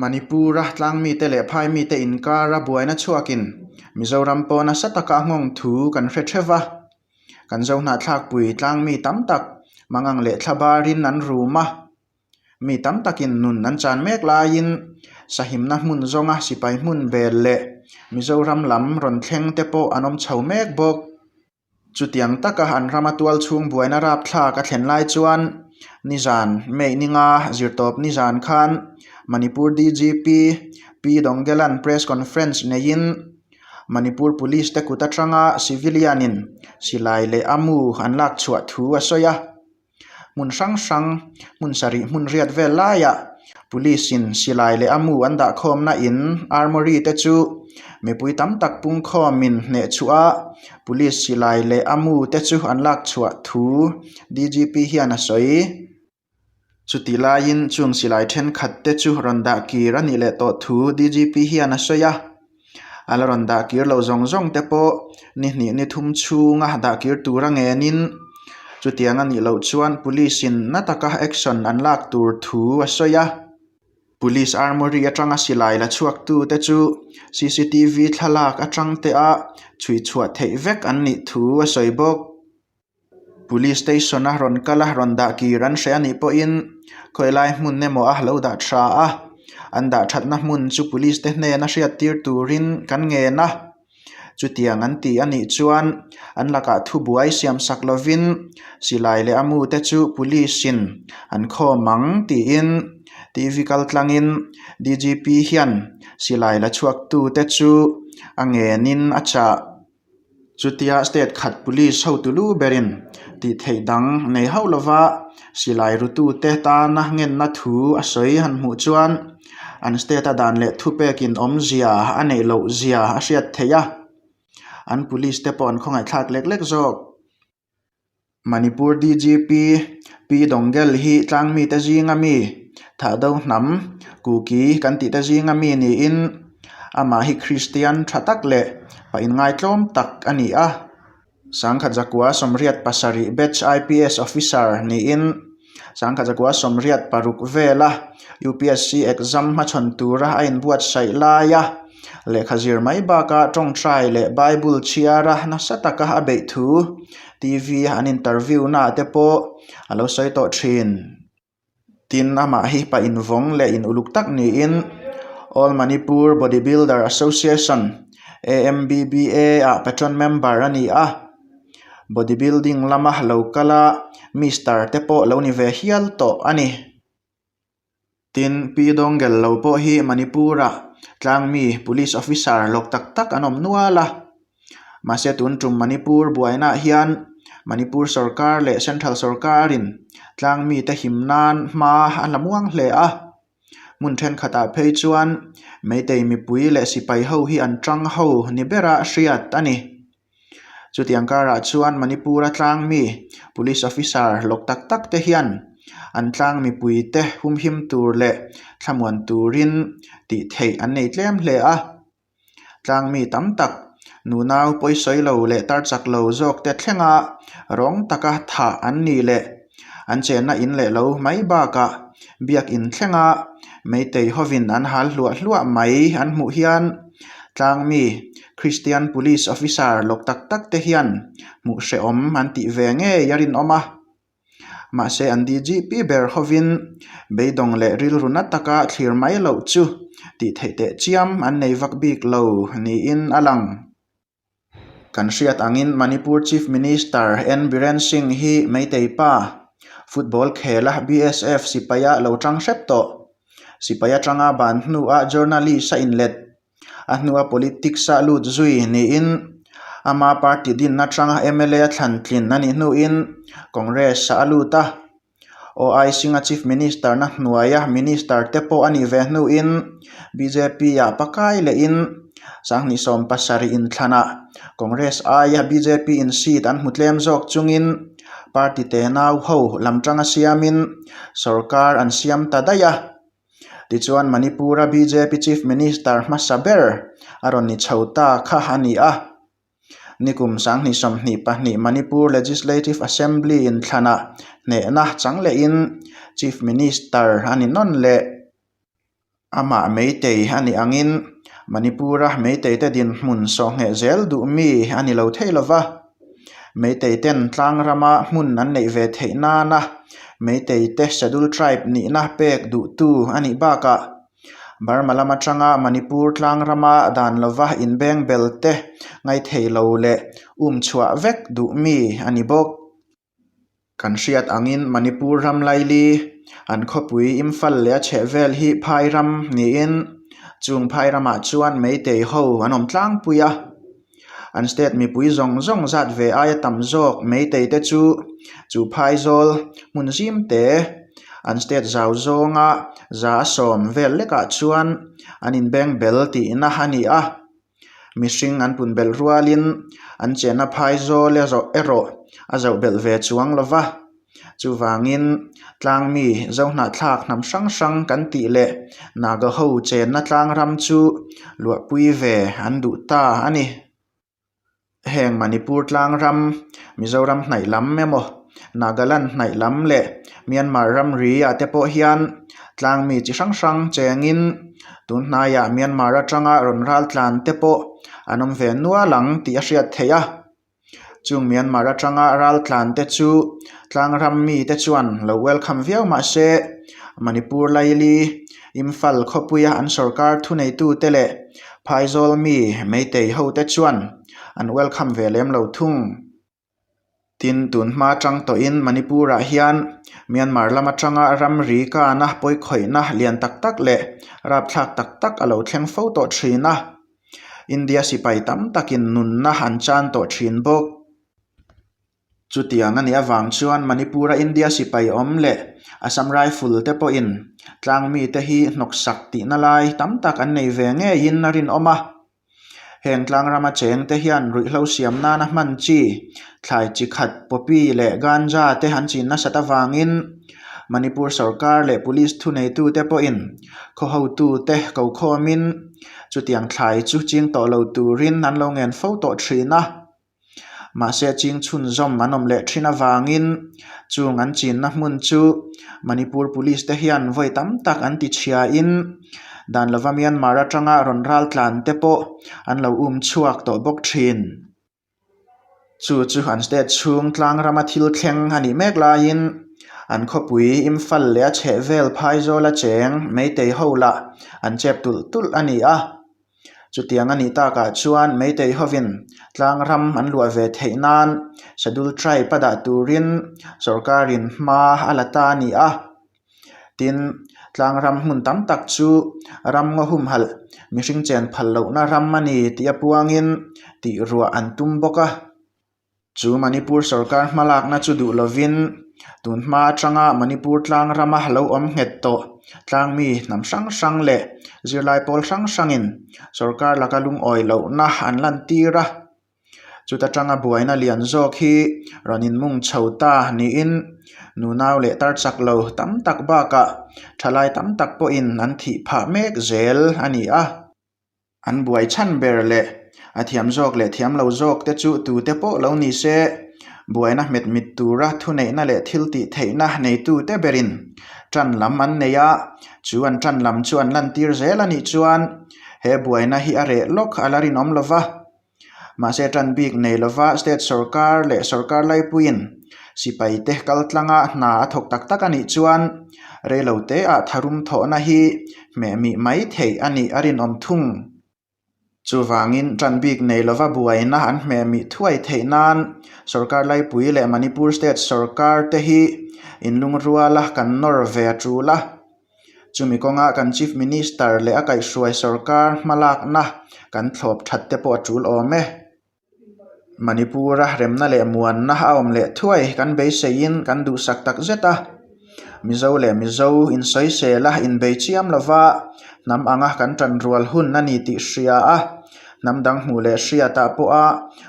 Manipura tlang mite leh phai mite inkara buaina chhuakin Mizoram pawh nasa taka a nghawng thu kan hre theuh va, kan zo hnahthlakpui tlang mi tam tak mangang leh thla barin an rum a, mi tam takin nun an chan mek laiin sahimna hmun zawnga sipai hmun vel leh Mizoram lam rawn thleng te pawh an awm chho mek bawk. Chutiang taka an rama tual chhung buaina rapthlak a thlen lai chuan nizan Meininga zirtawp nizan khan Manipur DGP P Dongdelan press conference neiin Manipur Police te kut atanga civilian-in silai leh a mu an lakchhuah thu a sawi a. hmun hrang hrang hmun sarih hmun riat vel laia police in silai leh amu an dah khawmna in armawri te chu mipui tam tak pungkhawm in hneh chhuah a police silai leh amu te chu an lak chhuah thu D G P hian a sawi chuti laiin chung silai thenkhat te chu rawn dah kir a nih leh tawh thu D G P hian a sawi a. a la rawn dah kir loh zawng zawng te pawh ni hnih ni thum chhunga dah kir tura ngenin chutiang a nih loh chuan police in na taka action an lak tur thu a sawi a. Police armoury atanga silai la chhuaktute chu cctv thlalak atangte a chhuihchhuah theih vek an nih thu a sawi bawk. Police station a rawn kal a rawn dah kir an hreh a nih pawhin khawi lai hmun emaw a lo dah tha a an dah thatna hmun chu police te hnena hriat tir turin kan ngen a chutiang an tih a nih chuan an lakah thubuai siam sak lovin silai leh a mu te chu police in an khawm ang tiin t v kal tlangin d g p hian silai la chhuak tute chu a ngenin a chah. Chutia state khat police ho tulu berin tihtheih dang nei hauh lova silai rutute tana ngenna thu a sawi han hmuh chuan an state a dan leh thu pek inawmzia a neih lohzia a hriat theih a, an police te pawh an khawngaihthlak lek lek zawk. Manipur DGP P Dongel hi tlang mite zinga mi, thah do hnam, Kuki kan tihte zinga mi niin amah hi Kristian tha tak leh pahin ngaitlawm tak a ni a. Sangkhat zakua sawmriat pasarih batch IPS officer niin, Sangkhat Zakua Sawmriat paruk vela upsc exam hmachhawn tura a inbuatsaih laia lehkha zir mai baka tawngtai leh Bible chhiara nasa taka a beih thu TV an interview naah te pawh a lo sawi tawh thin. Tin, amah hi pa invawng leh in uluk tak niin All Manipur Bodybuilder Association, AMBBA, ah patron member a ni a. body building lama lo kal a mister te pawh lo ni ve hial tawh a ni tin P dawngel lo pawh hi manipur ah tlang mi police officer lawk tak tak an awm nual a mahse tun tum manipur buaina ah hian manipur sawrkar leh central sawrkar in tlang mite him nan hma a hla muang hle a. Hmun thenkhatah phei chuan Meitei mipui leh sipai ho hi an ṭang ho ni bera hriat a ni. Chutiang karah chuan Manipura tlang mi Police Officer lawk tak tak te hian an tlang mipui te humhim tur leh thlamuan turin tihtheih an nei tlem hle a. Tlang mi tam tak, nunau pawisawi lo leh tarchak lo zawk te thlenga rawng taka thah an nih leh an chenna in leh lo mai bakah biakin thlenga Meitei hovin an hal hluah hluah mai an hmuh hian tlang mi Kristian Police Officer lawk tak tak te hian hmuh hrehawm an tih ve ngei a rinawm a. Mahse an di zih pi ber hovin beidawng leh rilru na taka thlir mai loh chu tih theih teh chiam an nei vak bik lo niin a lang. Kan hriat angin Manipur Chief Minister N Biren Singh hi Meitei pa, football khel a, BSF sipai a lo ṭang hrep tawh. Sipai aṭanga ban hnua journalist a inlet. a hnua politics a lut zui niin ama party dinna atanga mla thlan tlin a nih hnuin congress ah a lut a, OIC-a chief minister na hnuaia minister te pawh a nih ve hnuin BJP-a pakai lehin Sanghnih sawm pasarih in thlanah congress aia BJP in seat an hmu tlem zawk chungin party te nau ho lam tanga siamin sorkar an siam ta daih a. Tichuan Manipura bjp Chief Minister hmasa ber a rawn ni chho ta kha a ni a. Ni kum sanghnih sawmhnih pahnih Manipur Legislative Assembly in thlana hnehna changlehin Chief Minister a ni nawn leh amah Meitei a nih angin Manipura Meiteite dinhmun sawh ngheh zel duh mi a ni lo thei lova. Meiteiten Tlangrama hmun an neih ve theih nana Meiteite Scheduled Tribe nihna pek duhtu a nih bakah Burma lam atanga Manipur Tlangrama dan lova inbeng belte ngaithei lo leh um chhuah vek duhmi a ni bawk. Kan hriat angin Manipur ram Laili an khawpui Imphal leh a chhehvel hi phai ram niin chung phai ramah chuan Meitei ho an awm tlangpui a. An state mipui zawng zawng zat ve aia tam zawk Meitei te chu chu phai zawl hmun zim te an state zau zawnga za a sawm vel lekah chuan an inbeng bel tihna a ni a. mihring an pun belh rual in an chenna phai zawl erawh a zauh belh ve chuang lo va chuvang in tlang mi zau hnah thlak hnam hrang hrang kan tih leh naga ho chenna tlang ram chu luahpui ve an duh ta a ni. Heng Manipur tlang ram, Mizoram hnaih lam emaw, Nagaland hnaih lam leh Myanmar ramri ah te pawh hian tlang mi chi hrang hrang chengin tun hnaia Myanmar atanga rawn ral tlan te pawh an awm ve nual ang tih a hriat theih a. Chung Myanmar atanga ral tlan te chu tlang ram mi te chuan lo welcome viau mahse Manipur laili Imphal khawpuia an sorkar thuneitute leh phaizawl mi meitei hote chuan an welcome ve lem lo thung. Tin, tun hma chang tawhin Manipur-ah hian Myanmar lam atanga ramri kana pawikhawihna lian tak tak leh rapthlak tak tak a lo thleng fo tawh thin a. India sipai tam takin nunna an chan tawh thin bawk. Chutiang a nih avang chuan Manipur-a India sipai awm leh Assam Rifle te pawhin tlang mite hi hnawksak tihna lai tam tak an nei ve ngeiin a rinawm a. Heng tlang rama chengte hian ruihhlo siam nana hman chi, thlai chi khat, poppy leh ganja te an chin nasat avangin Manipur sawrkar leh police thuneitute pawhin khawhotute ko khawmin chutiang thlai chu ching tawh lo turin an lo ngen fo tawh thin a. Mahse a ching chhun zawm an awm leh thin avangin chung an chinna hmun chu Manipur Police te hian vawi tam tak an ti chhia in dan lova Myanmar atanga rawn ral tlan te pawh an lo um chhuak tawh bawk thin. Chu chu an state chhung tlang rama thil thleng a nih mek laiin an khawpui Imphal leh a chheh vel phai zawla cheng Meitei ho lah an chep tulh tulh a ni a. Chutiang a nih takah chuan Meitei hovin tlangram an luah ve theih nan Schedule Tribe a dah turin sorkarin hma a la ta a ni a. Tin, tlangram hmun tam tak chu ram ngaw humhalh mihring chenphal lohna ram a ni tih apuangin tihruah an tum bawk a. Chu Manipur sorkar hmalakna chu duh lovin tun hma atanga Manipur tlang rama lo awm nghet tawh tlang mi hnam hrang hrang leh zirlai pawl hrang hrangin sorkar laka lungawi lohna an lantir a, chuta tanga buaina lian zawk hi rawn inmung chho ta niin nunau leh tarchak lo tam tak bakah thalai tam tak pawhin an thih phah mek zel a ni a. An buai chhan ber leh a thiam zawk leh thiam lo zawk te chu tute pawh lo ni se, buaina hmet mit tura thuneihna leh thil tih theihna neitute berin ṭan lam an nei a. Chu an ṭan lam chu an lantir zel a nih chuan he buaina hi a reh lawk a la rinawm lo va. Mahse a tan bik nei lo va, state sorkar leh sorkar laipuiin sipai te kal tlanga hna a thawk tak tak a nih chuan reilo te ah tharum thawhna hi hmehmih mai theih a nih a rinawm thung. Chuvangin tan bik nei lova buaina an hmehmih thuai theih nan sorkar laipui leh Manipur state sorkar te hi in lungrual a kan nawr ve a tul a. Chumi kawnga kan Chief Minister leh a kaihhruai sorkar hmalakna kan thlawp that te pawh a tul awm e. Manipura remna leh muanna a awm leh thuai kan beiseiin kan duhsak takzet a. Mizo leh Mizo insawisela, inbei chiam lova hnam anga kan tanrual hun a ni tih hria a. Hnam dang hmuh leh hriatah pawha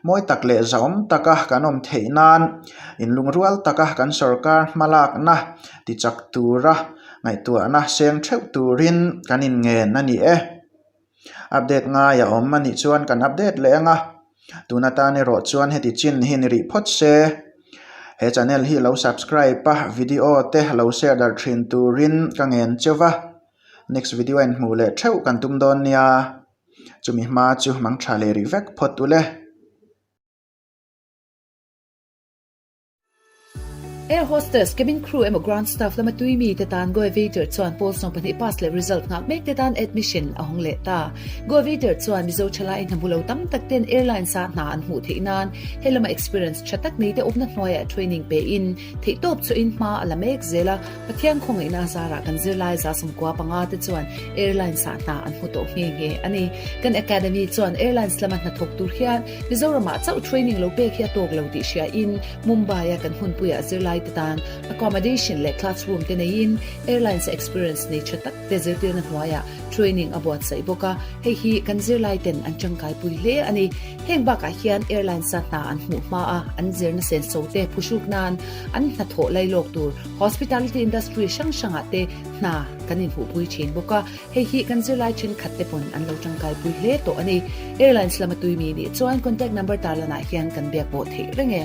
mawi tak leh zahawm taka kan awm theih nan, inlungrual taka kan sorkar hmalakna, tichak tura ngaihtuahna seng theuh turin kan inngen a ni e. Update ngai a awm a nih chuan kan update leh anga, tuna tan erawh chuan heti chin hi ni rih phawt se, he channel hi lo subscribe a, video te lo share darh thin turin ka ngen che va, next video a inhmuh leh theuh kan tum dawn nia, chumi hma chu mangtha leh rih vek phawt ule. Air hostess, cabin crew emaw ground staff lama tui mi te tan Goevator chuan Pawl sawm pahnih pass leh result nghak mek te tan admission a hawng leh ta. Goevator chuan Mizo thalai hnamu lo tam tak ten airlines a hna an hmuh theih nan he lama experience tha tak nei te awmna hnuai ah training pe in theih tawp chu in hma a la mek zel a. Pathian khawngaih na zar ah kan zirlai Zasumkua panga te chuan airlines a hna an hmu tawh nghe nghe a ni. Kan academy chuan airlines lama hnathawk tur hian Mizoramah chauh training lo pek hi a tawk lo tih hriain Mumbai-a kan hunpuia zirlaite tan accommodation leh classroom te neiin airlines experience nei tha takte zirtirna hnuaia training a buatsaih bawk a, hei hi kan zirlaiten an tangkaipui hle a ni. Heng bakah hian airlines-a hna an hmuh hmaa an zirna sensote phuhruk nan an hna thawh lailawk tur hospitality industry hrang hrangah te hna kan inhuhpui thin bawk a, Hei hi kan zirlai thenkhat te pawn an lo tangkai pui hle tawh a ni. Airlines lama tui mi nih chuan contact number tar lanah hian kan biak bawh theih reng e.